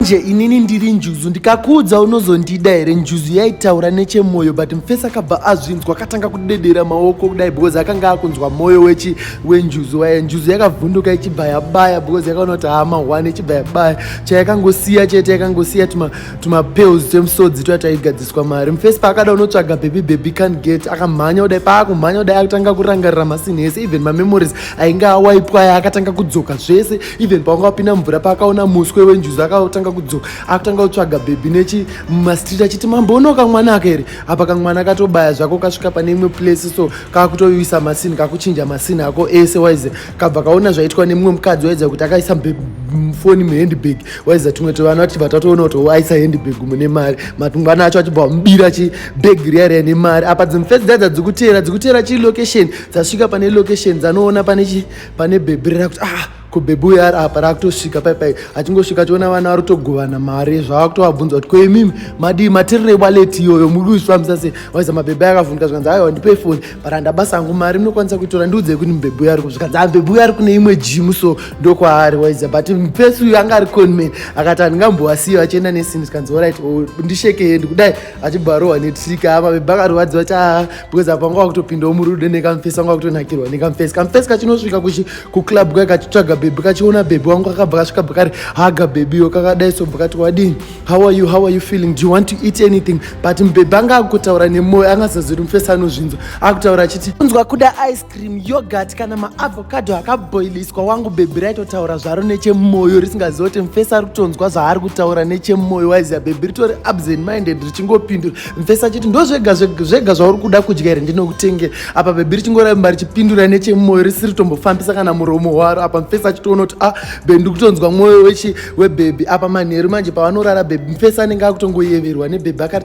nje inini ndiri njuzu ndikakuudza unozondida here njuzu yaitaura nechemwoyo but mufesi akabva azvinzwa akatanga kudedera maoko kudai because akanga akunzwa mwoyo wechi wenjuzu waya njuzu yakavhunduka ichibva yabaya because yakaona kuti hama one ichibva yabaya chayakangosiya chete yakangosiya tumapels twemusodzi tuya taigadziswa mari mufesi paakada unotsvaga baby baby can get akamhanya kudai paakumhanya kudai akatanga kurangarira masini ese even mamemories ainge awaipwa aya akatanga kudzoka zvese even pawanga wapinda mvura paakaona muswe wenjuzi akatanga kudzoka akutanga kutsvaga bhebhi nechi mumastreet achiti mambo uno kamwana aka here apa kamwana katobaya zvako kasvika pane imwe place so kakutoyuisa masini kakuchinja masini ako ese waize kabva kaona zvaitwa nemumwe mukadzi waiza kuti akaisa foni muhandbag waiza tumwe tovana vati vatatoona kuti waisa handbag mune mari matungwana acho achibva mubira chi bag riya riya nemari apa dzimufesi dzaidza dzikuteera dzikuteera chi location dzasvika pane location dzanoona pane chi pane bhebhi rina kuti ah ko bhebhi uyo ari apa raakutosvika pai pai achingosvika achiona vana vari kutogovana mari zvaakutovabvunza kuti koimimi madii matirire waleti iyoyo muri kuifambisa sei waiza mabhebhi ayakavhunika zvikanzi ayo handipei foni but handabasa hangu mari munokwanisa kuitora ndiudzei kuti mubhebhi uyo ari ku zvikanzi ambhebhi ah, uyo ari kune imwe jimu so ndokwaari waiza but mupesi uyo anga ari conman akati handingambowasiyo achienda nesini zvikanzi orit oh, ndishekei ndikudai achibva arohwa netrika apa bebe akarwadziwa cha because apa anga wakutopindawo murudo nekamfesi anga wakutonakirwa nekamfesi kamfesi kachinosvika kuclub kaya kachitsvaga bebe kachiona bebe wangu kakabva kasvika bva kari haga bebeyo kakadai sobva kati wadini how are you how are you feeling do you want to eat anything but mbebe anga akutaura nemwoyo angasazivi kuti mfesi anozvinzwa akutaura achiti unzwa kuda ice cream yogurt kana maavocado akabhoiliswa wangu bhebhi raitotaura zvaro nechemoyo risingaziva kuti mfesi ari kutonzwa zvaari kutaura nechemoyo waiziva bhebhi ritori absent minded richingopindura mfesi achiti ndo zvega zvega zvauri kuda kudya here ndinokutengera apa bhebhi richingoramba richipindura nechemoyo risiri tombofambisa kana muromo waro apa mfesi achitoona kuti a ah, bhebhi ndiri kutonzwa mwoyo wechi webhebhi apa manheru manje pavanorara bhebhi mfesi anenge akutongoyeverwa nebhebhi akati